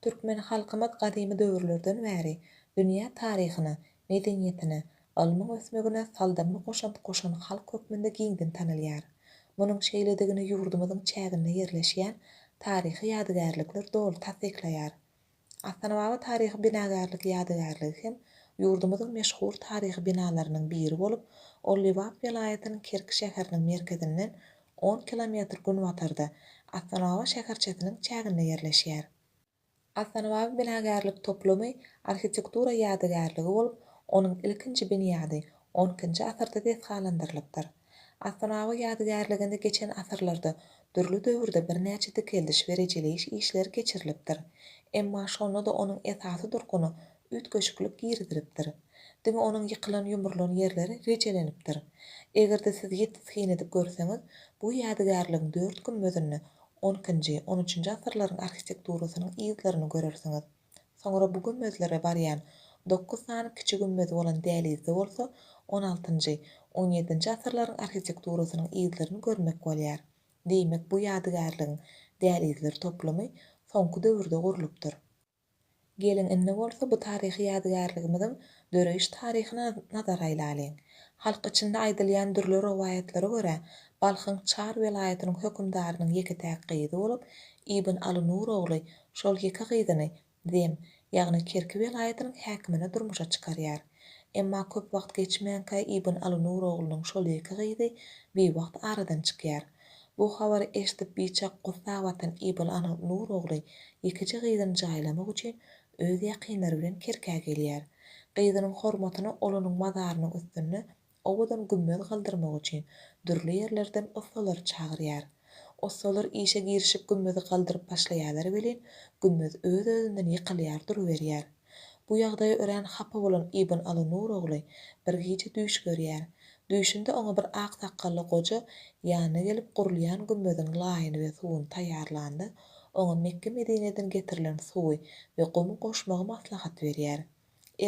Türkmen halkymyz gadymy döwürlerden bäri dünýä taryhyna, medeniýetine, ylmyň ösmegine saldamly goşant goşan halk hökmünde giňden tanalýar. Munuň şeýledigini ýurdumyzyň çäginde ýerleşýän taryhy ýadygärlikler doly tassyklaýar. Astanababa taryhy binagärlik ýadygärligi hem ýurdumyzyň meşhur taryhy binalarynyň biri bolup, ol Lebap welaýatynyň Kerki şäheriniň merkezinden on kilometr günbatarda, Astanabag şäherçesiniň çäginde ýerleşýär. Astanabag binagärlik toplumy arhitektura ýadygärligi bolup, onuň ilkinji binýady on ikinji asyrda desgalandyrylypdyr. Astanabag ýadygärliginde geçen asyrlarda dürli döwürde birnäçe dikeldiş we rejeleýiş işleri geçirilipdir. Emma şonda-da onuň esasy durkuny üýtgeşiklik girizilipdir. Diňe onuň ýykylan-ýumrulan ýerleri rejelenipdir. Eger-de siz ýiti syn edip görseňiz, bu ýadygärligiň dört gümmezinde onkinji, on üçünji asyrlaryň arhitekturasynyň yzlaryny görersiňiz. Soňra bu gümmezlere barýan dokuz sany kiçi gümmezi bolan dälizde bolsa on altynjy, on ýedinji asyrlaryň arhitekturasynyň yzlaryny görmek bolýar. Diýmek, bu ýadygärligiň dälizler toplumy soňky döwürde gurlupdyr. Geliň, indi bolsa bu taryhy ýadygärligimiziň döreýiş taryhyna nazar aýlalyň. Halk içinde aýdylýan dürli rowaýatlara görä, Balhyň Çar welaýatynyň hökümdarynyň ýeke-täk gyzy bolup, Ibn Aly Nur ogly şol ýeke gyzyny Zem, ýagny Kerki welaýatynyň häkimine durmuşa çykarýar. Emma köp wagt geçmänkä Ibn Aly Nur oglunyň şol ýeke gyzy biwagt aradan çykýar. Bu habary eşidip biçak Gussa batan Ýybylynyň Nur ogly ýekeje gyzyny jaýlamak üçin öz ýakynlary bilen Kerkä gelýär. Gyzynyň hormatyna olunyň mazarynyň üstünde owadan gümmez galdyrmak üçin dürli ýerlerden ussalary çagyrýar. Ussalar işe girişip gümmezi galdyryp başlaýarlar welin, gümmez öz-özünden ýykylýar duruberýär. Bu ýagdaýa örän hapa bolan Ibn Alynur ogly bir gije düýş görýär. Düýşünde oňa bir ak sakgally goja ýanyna gelip gurulýan gümmeziň laýyny we suwuny taýýarlanda, oňa Mekge-Medineden getirilen suwy we gumy goşmagy maslahat berýär.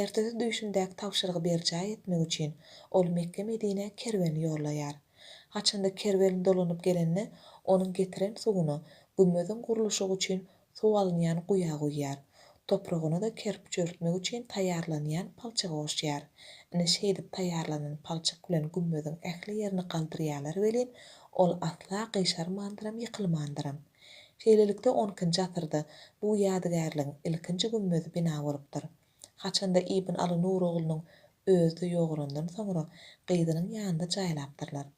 Ertesi düýşündäki tabşyrygy berjaý etmek üçin ol Mekge-Medinä kerwen ýollaýar. Haçanda kerwen dolanyp gelende onuň getiren suwuna gümmeziň gurluşygy üçin suw alynýan guýa guýýar. Topragyna-da kerp çöldmek üçin taýýarlanýan palçygy goşýar. Ine şeýdip taýýarlanan palçyk bilen gümmeziň ähli ýerini galdyrýarlar welin, ol asla gyşarmandyram, ýykylmandyram. Şeýlelikde, onkinji asyrda bu ýadygärligiň ilkinji gümmezi bina bolupdyr. Haçanda Ibn Aly Nur oglunyň özi ýogalandan soňra gyzynyň ýanynda jaýlapdyrlar.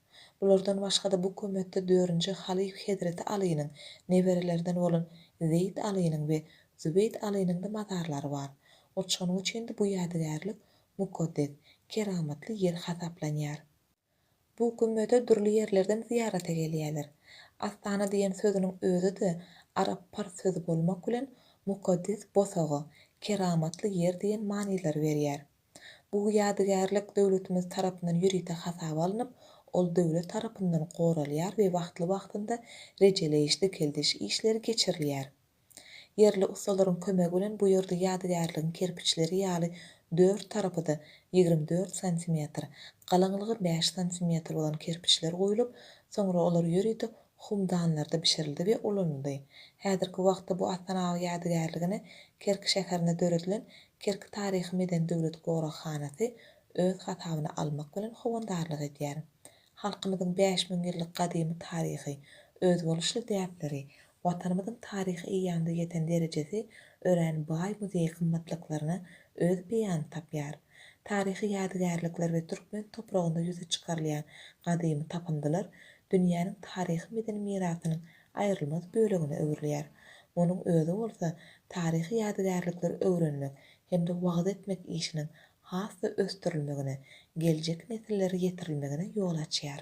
Bulardan başga-da bu kömetde dörünji halyf Hezreti Alynyň neberelerinden bolan Zeýd Alynyň we Zübeýd Alynyň-da mazarlary bar. Ot şonuň üçin-de bu ýadygärlik mukaddes, keramatly ýer hasaplanýar. Bu gümmede dürli ýerlerden zyýarata gelýärler. Astana diýen sözüniň özi-de arap-pars sözi bolmak bilen mukaddes bosaga, keramatly ýer diýen manylary berýär. Bu ýadygärlik döwletimiz tarapyndan ýörite hasaba alnyp, ol döwlet tarapyndan goralýar we wagtly-wagtynda rejeleýiş-dikeldiş işleri geçirilýär. Ýerli ussalaryň kömegi bilen bu ýerde ýadygärligiň kerpiçleri ýaly dört tarapy-da ýigrimi dört santimetr, galyňlygy bäş santimetr bolan kerpiçler guýlup, soňra olar ýörite humdanlarda bişirildi we ulanyldy. Häzirki wagtda bu Astanag ýadygärligine Kerki şäherinde döredilen Kerki taryhy-medeni döwlet goraghanasy öz hasabyna almak bilen howandarlyk edýär. Halkymyzyň bäş müň ýyllyk gadymy taryhy, özboluşly däpleri, Watanymyzyň taryhy eýýamda ýeten derejesi örän baý muzeý gymmatlyklaryna öz beýanyny tapýar. Taryhy ýadygärlikler we türkmen topragynda ýüze çykarylýan gadymy tapyndylar dünýäniň taryhy-medeni mirasynyň aýrylmaz bölegine öwrülýär. Munuň özi bolsa taryhy ýadygärlikleri öwrenmek hem-de wagyz etmek işiniň has-da ösdürilmegine, geljek nesillere ýetirilmegine ýol açýar.